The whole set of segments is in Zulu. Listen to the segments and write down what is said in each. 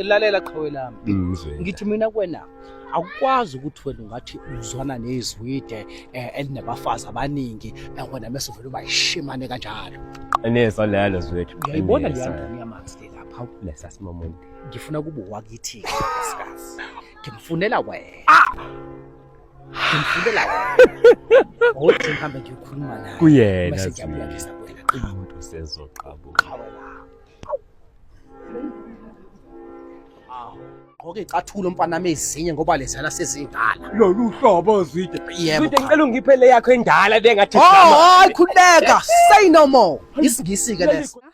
lalela qhawe lami Mm, Zweli. ngithi mina kwena akukwazi ukuthi wena ungathi uzwana nezwide eh, elinabafazi abaningi eh, wena mese uvele uba yishimane kanjalo Ineso lelo zwethu. uyayibona Ineso. leyandoni yamanzi le lapha Lesa simomuntu. ngifuna kuba wakithi-ke nkosikazi ngimfunela wena kuyena umuntu sezoqabuka gqoke icathulo mfana mezinye ngoba lezana sezindala lolu hlobo zwide yebo zwide ngicela ungiphe le yakho endala bengathi oh hayi khuleka say no more isingisi ke leso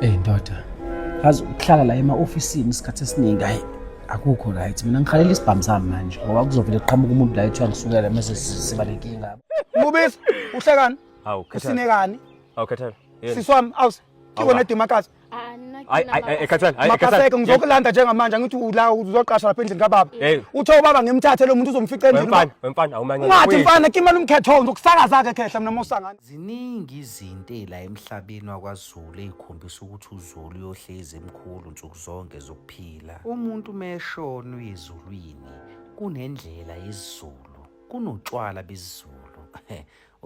Ey ndoda, azi ukuhlala la ema-ofisini isikhathi esiningi hayi akukho right. Mina ngikhalela isibhamu sami manje ngoba kuzovele kuqhamuka umuntu la ethiwa ngisukela mase siba nenkinga. Mubisi, uhlekani? Hawu, Khethelwe. Usinekani? Hawu, Khethelwe. Yini? Sisi wami, awuse. Awu, Kiko la. nedima kazi. Hayi, hayi, hayi, Khethelwe, hayi, Makaseke Khethelwe. ngizokulanda njengamanje angithi ula uzoqasha lapha endlini kababa. Hey. Uthe ubaba ngimthathe lo muntu uzomfica endlini. Wemfana, wemfana, awumanyana. Ungathi mfana kimela umkhetho ngizokusakaza ke khehla mina mosangana. Ziningi izinto ey'la emhlabeni wakwaZulu ey'khombisa ukuthi uZulu uyohlezi emkhulu nsuku zonke zokuphila. Umuntu uma eshona uye ezulwini kunendlela yesiZulu, kunotshwala besiZulu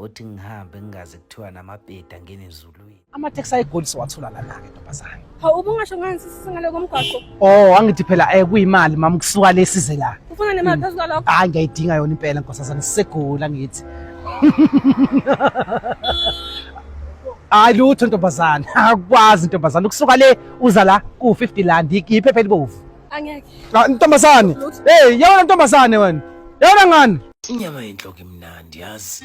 othi ngihambe ngingaze kuthiwa namapeta angene ezulwini. Amateksi ayigoli siwathola lana-ke ntombazane. Hawu ubungasho ngani sisi ngale komgwaqo? Oh, angithi phela eh kuyimali mama kusuka le size la. Ufuna nemali hmm. phezu kwalokho? Hayi ngiyayidinga yona impela nkosazana sisegula ngithi. Hayi lutho ntombazana, akwazi ntombazana ukusuka le uza la ku 50 rand iphepha elibovu. Angeke. Ah, ntombazane. Hey, yawona ntombazane wena. Yawona ngani? Inyama yenhloko imnandi yazi.